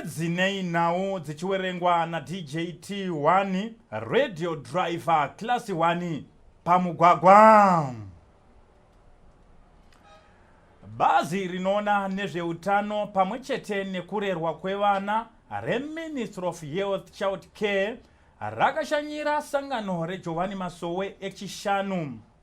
dzinei nhau dzichiwerengwa nadjt 1 radio driver class 1 pamugwagwa bazi rinoona nezveutano pamwe chete nekurerwa kwevana reministry of health child care rakashanyira sangano rejohani masowe echishanu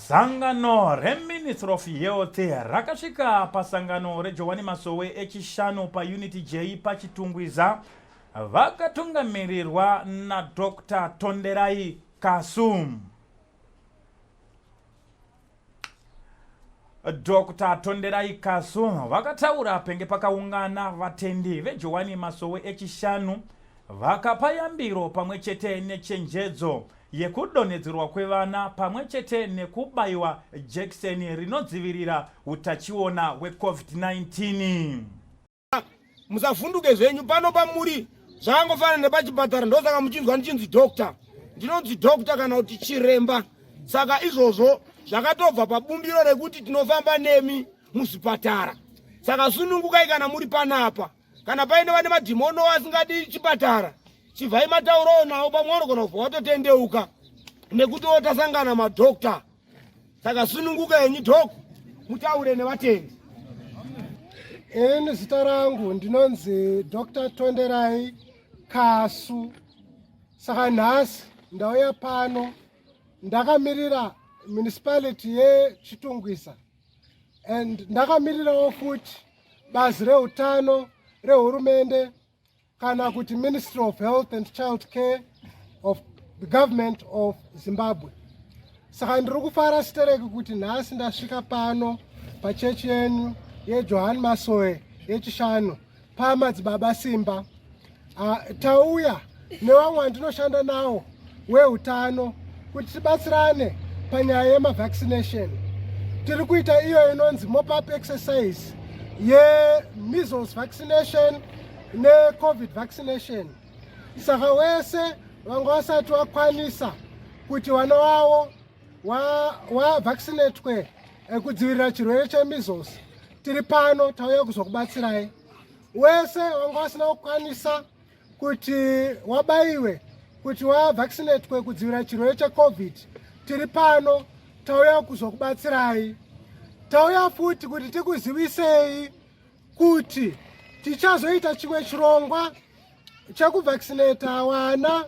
Sangano reMinistry of Health rakasvika pasangano reJohwani Masowe echishanu paUnity J paChitungwiza vakatungamirirwa naDr Tonderai Kasu. Dr Tonderai Kasu vakataura penge pakaungana vatendi veJohwani Masowe echishanu vakapa yambiro pamwe chete nechenjedzo yekudonhedzerwa kwevana pamwe chete nekubaiwa jekiseni rinodzivirira utachiona hwecovid-19 musavhunduke zvenyu pano pamuri zvakangofanana nepachipatara ndosaka muchinzwa ndichinzi doctor ndinonzi doctor kana kuti chiremba saka izvozvo zvakatobva pabumbiro rekuti tinofamba nemi muzvipatara saka sunungukai kana muri panapa kana paine vane madhimono asingadi chipatara chibvai mataurawo nawo pamwe wanogona kubva watotendeuka nekuti wotasangana madokta saka sununguka yenyu dok mutaure nevatendi ini zita rangu ndinonzi dr tonderai kasu saka nhasi ndauya pano ndakamirira municipality yechitungwisa and ndakamirirawo futi bazi reutano rehurumende kana kuti ministry of health and child care of the government of zimbabwe saka ndiri kufara sitereki kuti nhasi ndasvika pano pachechi yenyu yejohani masoe yechishanu pamadzibaba simba ah, tauya nevamwe vandinoshanda nawo weutano kuti tibatsirane panyaya yemavaccination tiri kuita iyo inonzi mopup exercise yemeasles vaccination necovid vaccination saka wese vanga vasati vakwanisa kuti vana wavo wavaccinatwe wa ekudzivirira chirwere chemeasles tiri pano tauya kuzokubatsirai wese wanga wasina kukwanisa kuti wabaiwe kuti wavaccinatwe kudzivirira chirwere checovid tiri pano tauya kuzokubatsirai tauya futi kuti tikuzivisei kuti tichazoita chimwe chirongwa chekuvaccinata wana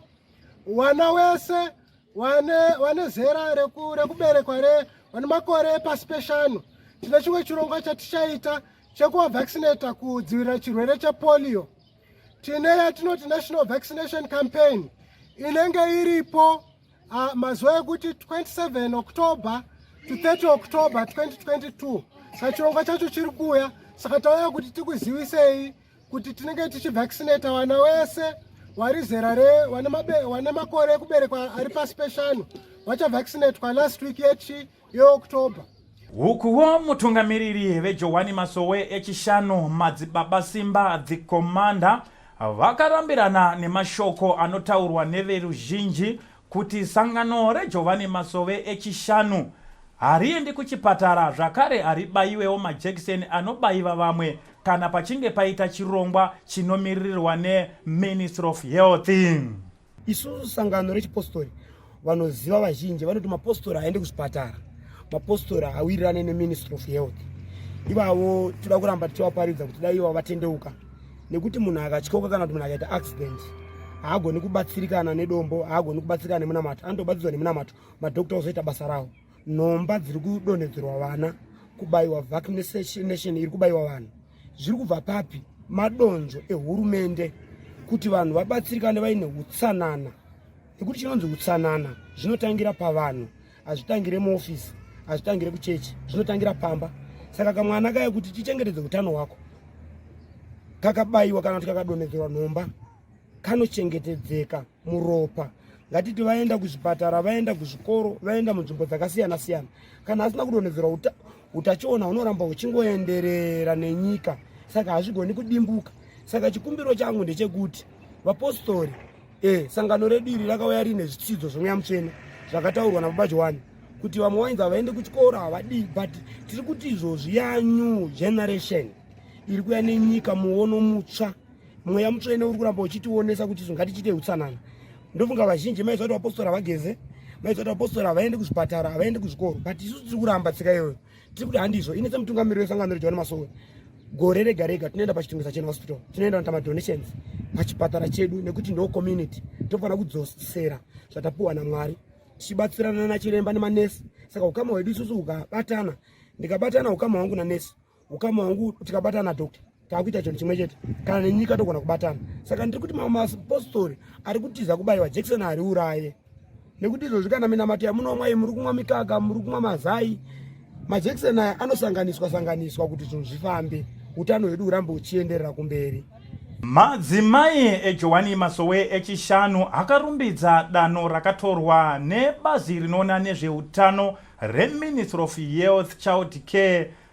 wana wese wane wane zera rekuberekwa re vane makore epasi peshanu tine chimwe chirongwa chatichaita chekuvavaccinata kudzivirira chirwere chepolio tine yatinoti national vaccination campaign inenge iripo uh, mazuva ekuti 27 october to 30 october 2022 saka chirongwa chacho chiri kuuya saka tauya kuti tikuzivisei kuti tinenge tichivaccinata vana wese wari zera re wane makore ekuberekwa ari pasi peshanu vachavaccinatwa last week yechi yeoctober ukuwo mutungamiriri vejowani masowe echishanu madzibaba simba the commander vakarambirana nemashoko anotaurwa neveruzhinji kuti sangano reJovhani Masove eChishanu hariendi kuchipatara zvakare haribaiwewo majekiseni anobaiva vamwe kana pachinge paita chirongwa chinomiririrwa neMinistry of Health. Isusu sangano rechipostori vanoziva vazhinji vanoti mapostori haaende kuzvipatara mapostori hawirirane neministry of health ivavo toda kuramba tichivaparidza kuti dai ivo vatendeuka nekuti munhu akatyoka kana kuti munhu akaita accident haagoni kubatsirikana nedombo haagoni kubatsirikana nemunamato anotobatsirwa nemunamato madokta ozoita basa rawo nhomba dziri kudonhedzerwa vana kubayiwa vaccination iri kubayiwa vanhu zviri kubva papi madonzvo ehurumende kuti vanhu vabatsirikane vaine utsanana nekuti chinonzi utsanana zvinotangira pavanhu hazvitangire muofisi hazvitangire kuchechi zvinotangira pamba saka kamwana kaya kuti tichengetedze utano hwako kakabayiwa kana kuti kakadonhedzerwa nhomba kanochengetedzeka muropa ngatiti vaenda kuzvipatara vaenda kuzvikoro vaenda munzvimbo dzakasiyana siyana kana asina kudonhedzerwa uta, utachiona hunoramba huchingoenderera nenyika saka hazvigoni kudimbuka saka chikumbiro changu ndechekuti vapostori Eh, sangano redu iri rakauya rine zvitsidzo zvemweya mutsvene zvakataurwa nababa johani kuti vamwe wainzi havaende kuchikoro havadii but tiri kuti izvozvi yanew generation iri kuya nenyika muono mutsva mweya mutsvene uri kuramba uchitionesa kuti izvo ngatichiite utsanana ndofunga vazhinji maiziva kuti vapostora havageze maiziva kuti vapostora havaende kuzvipatara havaende kuzvikoro but isu tiri kuramba tsika iyoyo tiri kuti handizvo ini semutungamiri wesangano rejohani masowe gore rega rega tinoenda pachitungisa chena hospital tinoenda nota madonations pachipatara chedu nekuti ndo community tofanira kudzosera zvatapiwa namwari tichibatsirana nachiremba nemanesi saka ukama hwedu isusu ukabatana ndikabatana ukama hwangu nanesi ukama hwangu tikabatana doctor takuita chinhu chimwe chete kana nenyika togona kubatana saka ndiri kuti mamwe mapostori ari kutiza kubayiwa jekiseni ari uraye nekuti izvozvi kana minamato yamunwa mwai muri kumwa mikaka muri kumwa mazai majekiseni aya anosanganiswa sanganiswa kuti zvinhu zvifambe utano hwedu hurambe huchienderera kumberi madzimai ejowani masowe echishanu akarumbidza danho rakatorwa nebazi rinoona nezveutano reministry of health child care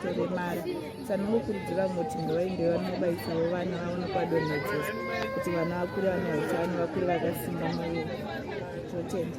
atore mari sanongokurudzira vamwe kuti ngavaende vanobaisawo vana vavo nekwadonhedzesa kuti vana vakure vane utano vakure vakasimba muviri totenda